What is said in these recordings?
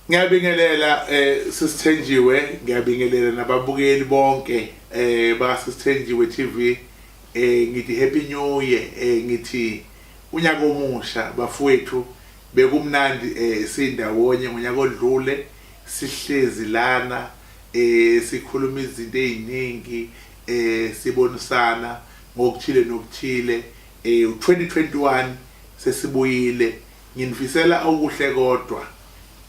Ngiyabingelela eh sisithenjiwe ngiyabingelela nababukeli bonke eh basisithenjiwe TV eh ngithi happy new year eh ngithi unyaka omusha bafowethu bekumnandi eh sindawonye ngonyaka odlule sihlezi lana eh sikhuluma izinto eziningi eh sibonisana ngokuthile nokuthile eh 2021 sesibuyile Nginifisela okuhle kodwa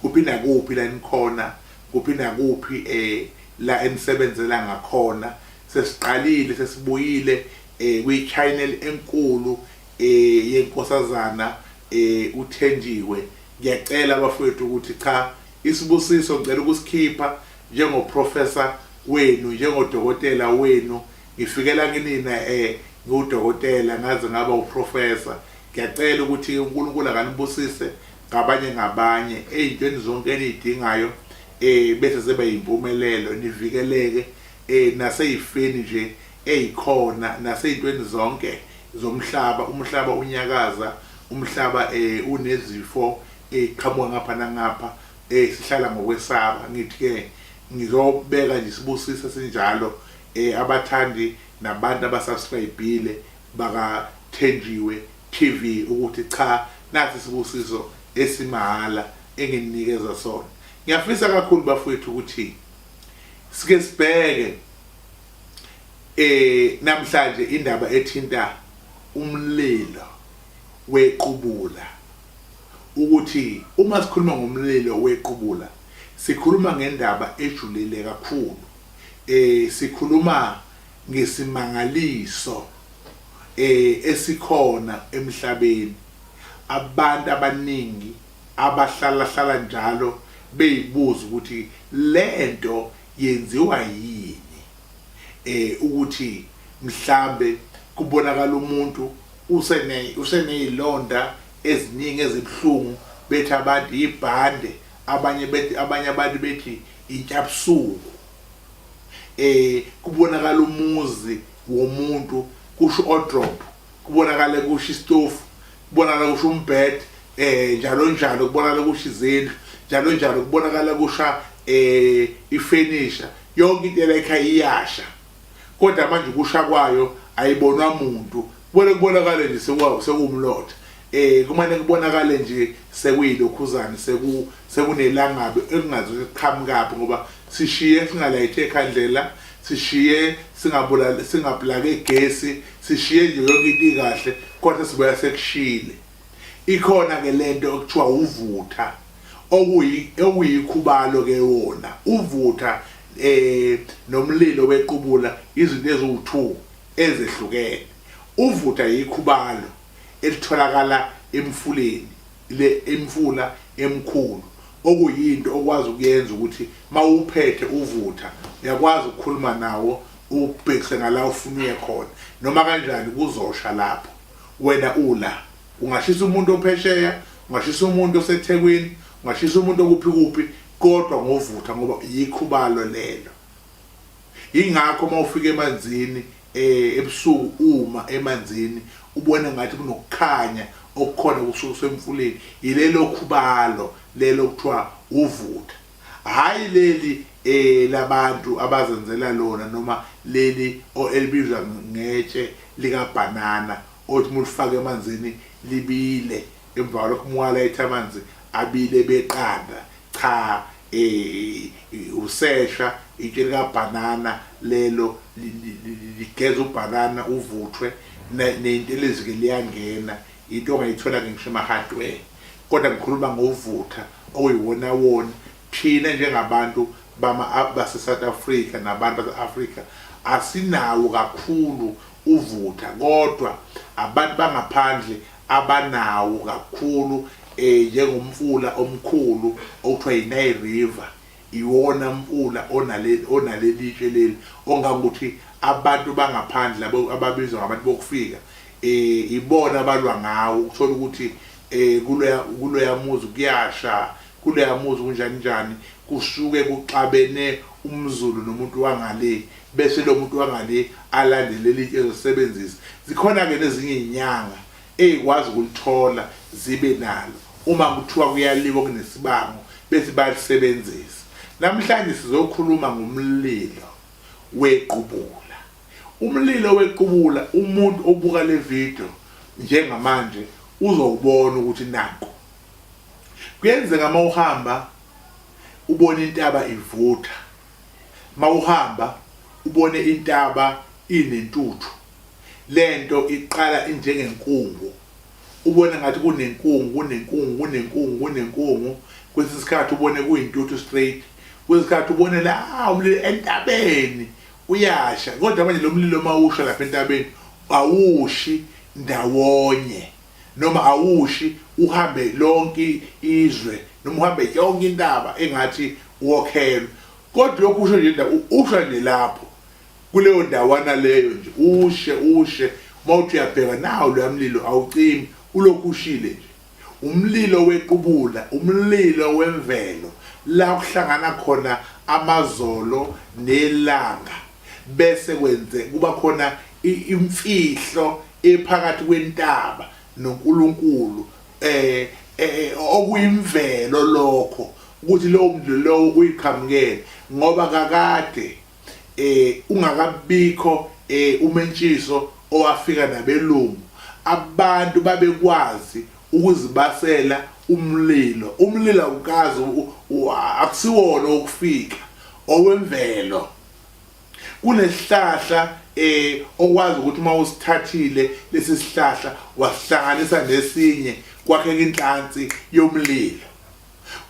kuphi nakuphi la enikhona kuphi nakuphi eh la enisebenzela ngakhona sesiqalile sesibuyile eh kwi channel enkulu eh yenkosazana eh uThenjiwe ngiyacela bafowethu ukuthi cha isibusiso ngicela ukusikhipha njengo professor wenu njengodokotela wenu Ngifikela kinina e ngiwudokotela ngaze ngaba uprofessor ngiyacela ukuthi uNkulunkulu akanibusise ngabanye ngabanye eyintweni zonke eniyidingayo eh bese sebe yimpumelelo nivikeleke eh naseyifeni nje eyikhona naseyintweni zonke zomhlaba umhlaba unyakaza umhlaba eh unezifo eziqhamuka eh, ngapha nangapha eh sihlala ngokwesaba ngithi ke ngizobeka nje sibusise sinjalo eh abathandi nabantu abasubscribile baka Thenjiwe TV ukuthi cha nasi isibusiso esimahhala engininikeza sona ngiyafisa kakhulu bafowethu ukuthi sike sibheke eh namhlanje indaba ethinta umlilo wequbula ukuthi uma sikhuluma ngomlilo wequbula sikhuluma ngendaba ejulile kakhulu Eh sikhuluma ngesimangaliso eh esikhona emhlabeni abantu abaningi abahlala hlala njalo beyibuza ukuthi lento yenziwa yini eh ukuthi mhlambe kubonakala umuntu usene usenezilonda eziningi ezibuhlungu bethi abantu ibhande abanye bethi abanye abantu bethi Intyabsuku eh kubonakala umuzi womuntu kusho odrop kubonakala kusho istofu kubonakala kusho umbed eh njalo njalo kubonakala kusho izindlu njalo njalo kubonakala kusha eh ifurniture yonke into ela ekhaya iyasha Kodwa manje ukusha kwayo ayibonwa muntu. Kumele kubonakale nje sekwawo sekuwumlotha. Eh kumane kubonakale nje sekuyilokhuzane seku sekunelangabe ekungazi liqhamukaphi ngoba sishiye singalayithe ekhandlela sishiye singabulali singaplake gesi sishiye nje yonke into ikahle kodwa sibuya sekushile. Ikhona ke lento okuthiwa uvutha okuyi okuyikhubalo ke wona uvutha eh nomlilo wequbula izinto eziwu2 ezehlukene. Uvutha yikhubalo elitholakala emfuleni le imfula emkhulu okuyinto okwazi ukuyenza ukuthi mawuphethe uvutha uyakwazi ukukhuluma nawo ubhekise ngala ufuna uye khona noma kanjani kuzosha lapho. wena ula ungashisa umuntu ophesheya ungashisa umuntu osethekwini ungashisa umuntu okuphi kuphi kodwa ngovutha ngoba yikhubalo lelo ingakho uma ufika emanzini eh ebusuku uma emanzini ubone ngathi kunokukhanya okukhona kusuke kusemfuleni yilelo khubalo lelo kuthiwa uvutha hhayi leli eh labantu abazenzela lona noma leli o elibizwa ngetshe likabhanana othi uma ulifaka emanzini libile emva kwalokho uma uwalayitha amanzi abile beqanda cha eh usesha itshe likabhanana lelo ligeza ubhanana uvuthwe neyintelezi-ke liyangena into ongayithola-ke ngisho emahardware Kodwa ngikhuluma ngovutha okuyiwonawoni thina njengabantu bama baseSouth Africa nabantu base-Afrika asinawo kakhulu uvutha kodwa abantu bangaphandle abanawo kakhulu eh njengomfula omkhulu okuthiwa yiNile River iwona mfula onale onalelitshe leli ongangokuthi abantu bangaphandle ababizwa ngabantu bokufika eh ibona abalwa ngawo ukuthola ukuthi eh kuloya kuloya muzi kuyasha kuloya muzi kunjani njani kusuke kuxabene umzulu nomuntu wangale bese lo muntu wangale alandele litshe ezosebenzisa zikhona ke nezinye izinyanga ezikwazi ukulithola zibe nalo uma kuthiwa kuyaliwa kunesibango bese bayalisebenzisa namhlanje sizokhuluma ngomlilo wequbula Umlilo wequbula umuntu obuka le video njengamanje uzowubona ukuthi naku. Kuyenzeka uma uhamba ubone intaba ivutha, uma uhamba ubone intaba inentuthu. Le nto iqala injengenkungu, ubone ngathi kunenkungu, kunenkungu, kunenkungu, kunenkungu, kwesinye isikhathi ubone kuyintuthu straight, kwesinye isikhathi ubone la umlilo entabeni, Uyasha kodwa manje lomlilo mawusha lapha entabeni awushi ndawonye noma awushi uhambe lonke izwe noma uhambe yonke intaba engathi wokhelwe kodwa lokhu usho nje ndawo usha nje lapho kuleyo ndawana leyo nje ushe ushe mawuthi uyabheka nawo loyamlilo awucimi ulokhu ushile nje Umlilo wequbula umlilo wemvelo la kuhlangana khona amazolo nelanga bese kwenze kuba khona imfihlo ephakathi kwentaba noNkulunkulu eh, eh, eh okuyimvelo lokho ukuthi lowo mdlalo lowo uyiqhamukele ngoba kakade eh ungakabikho eh umentshiso owafika nabelungu abantu babekwazi ukuzibasela umlilo umlilo awukazi akusiwona okufika owemvelo kunesihlahla eh okwazi ukuthi uma usithathile lesi sihlahla wasihlanganisa nesinye kwakheka inhlansi yomlilo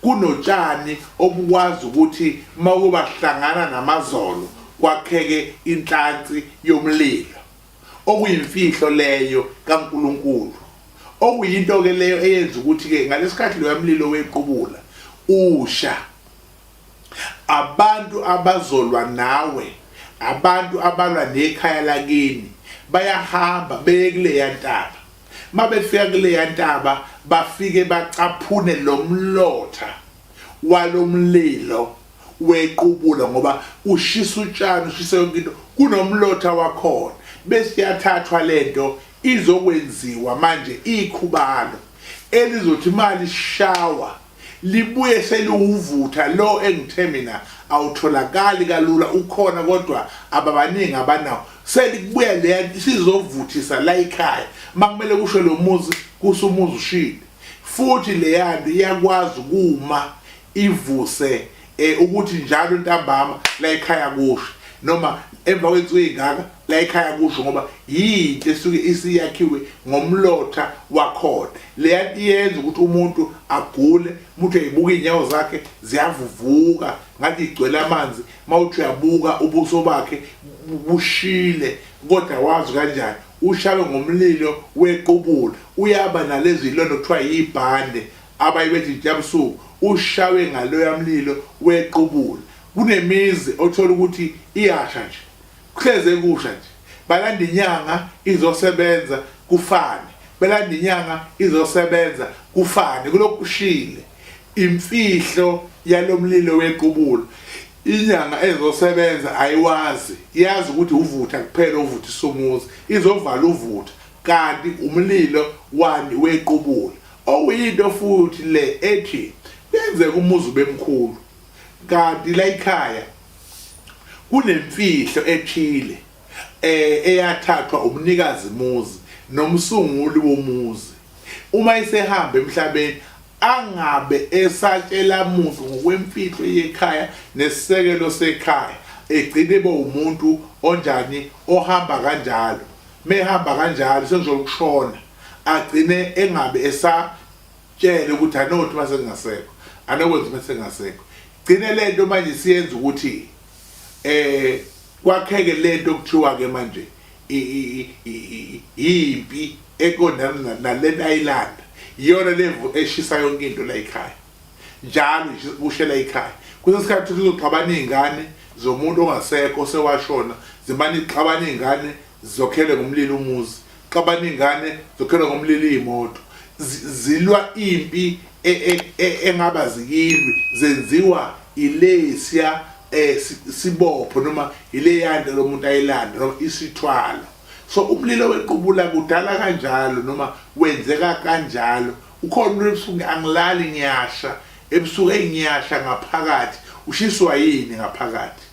Kunotshani obukwazi ukuthi uma kubahlangana namazolo kwakheke inhlansi yomlilo, okuyimfihlo leyo kaNkulunkulu, okuyinto-ke leyo eyenza ukuthi-ke ngalesikhathi loya mlilo wequbula usha, abantu abazolwa nawe, abantu abalwa nekhaya lakini, bayahamba beye kuleya ntaba. Mabefika kuleya ntaba bafike bacaphune lo mlotha walo mlilo wequbula ngoba ushisa utshani ushisa yonke into kunomlotha wakhona bese yathathwa lento izokwenziwa manje ikhubalo elizothi imali shawa Libuye seliwuvutha lo engithe mina awutholakali kalula ukhona kodwa ababaningi abanawo selibuya leya sizovuthisa la ikhaya makumele kusho lo muzi kusumuzi ushile futhi leyanto iyakwazi kuma ivuse eh ukuthi njalo ntambama la ekhaya kusho noma emva kwensuku ezingaka la ekhaya kusho ngoba yinto esuke isiyakhiwe ngomlotha wakhona leya yenza ukuthi umuntu agule umuntu eyibuka izinyawo zakhe ziyavuvuka ngathi igcwele amanzi mawuthi uyabuka ubuso bakhe bushile kodwa wazi kanjani ushawe ngomlilo wequbula uyaba nalezi londo kuthiwa yibhande Abanye bethi Jabusuku ushawe ngaloya mlilo wequbula. Kunemizi othola ukuthi iyasha nje. Kuhlezi ekusha nje. Balanda inyanga izosebenza kufane. Belanda inyanga izosebenza kufane. Kulokhu kushile. Imfihlo yalo mlilo wequbula. Inyanga ezosebenza ayiwazi. Yazi ukuthi uvutha kuphela ovuthisa umuzi. Izovala uvutha. Kanti umlilo wani wequbula. Okuyinto futhi le ethi kuyenzeka umuzi ubemkhulu kanti la ikhaya kunemfihlo ethile eh eyathathwa umnikazi muzi nomsunguli womuzi uma isehamba emhlabeni angabe esatshela muntu ngokwemfihlo yekhaya nesisekelo sekhaya egcine ebe umuntu onjani ohamba kanjalo mehamba kanjalo sengizolukushona agcine engabe esatshele ukuthi anothi uma sengingasekho anokwenza uma sengingasekho gcine le nto manje siyenza ukuthi eh kwakheke le nto kuthiwa-ke manje yimpi eqondana nalena ayilanda iyona levu eshisa yonke into la yikhaya njalo kushela ikhaya kusesikhathi ukuthi kuzoxabana iy'ngane zomuntu ongasekho sewashona zimane ixabana iy'ngane Zokhele ngomlilo umuzi, xabana ingane, zokhele ngomlilo iyimoto. Zilwa impi e, e, e, engaba zikilwi zenziwa ilesya eh sibopho noma ileyanda lomuntu ayilanda noma isithwalo so umlilo wequbula kudala kanjalo noma wenzeka kanjalo ukhona umuntu ebusuku angilali ngiyasha ebusuku engiyasha ngaphakathi ushiswa yini ngaphakathi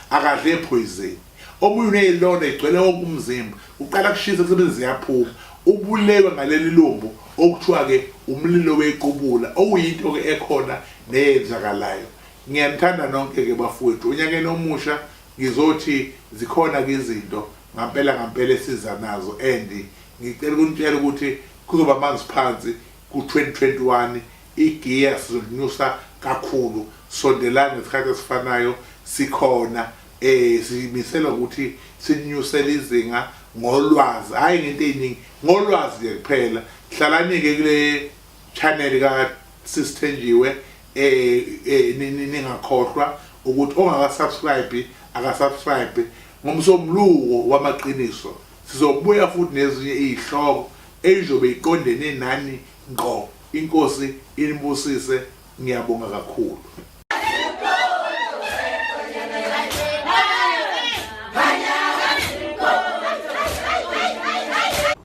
akadle phoyizeni omunye unezilonda igcwele wonke umzimba uqala kushisa kusebenza ziyaphuma ubulewe ngaleli lumbu okuthiwa ke umlilo wequbula okuyinto ke ekhona neyenzakalayo ngiyanithanda nonke ke bafowethu onyakeni omusha ngizothi zikhona ke izinto ngampela ngampela esiza nazo and ngicela ukunitshela ukuthi kuzoba amanzi phansi Ku-2021 igiya sizolinyusa kakhulu, sondelani ngesikhathi esifanayo sikhona. Um simisela ukuthi sininyusele izinga ngolwazi, hhayi ngento ey'ningi, ngolwazi nje kuphela. Hlalani-ke kule channel ka-Sis Thenjiwe, um ningakhohlwa ukuthi ongaka-subscribe aka-subscribe. Ngomsombuluko wamaqiniso sizobuya futhi nezinye iy'hloko. eyizobe iqondene nani ngqo inkosi inibusise ngiyabonga kakhulu.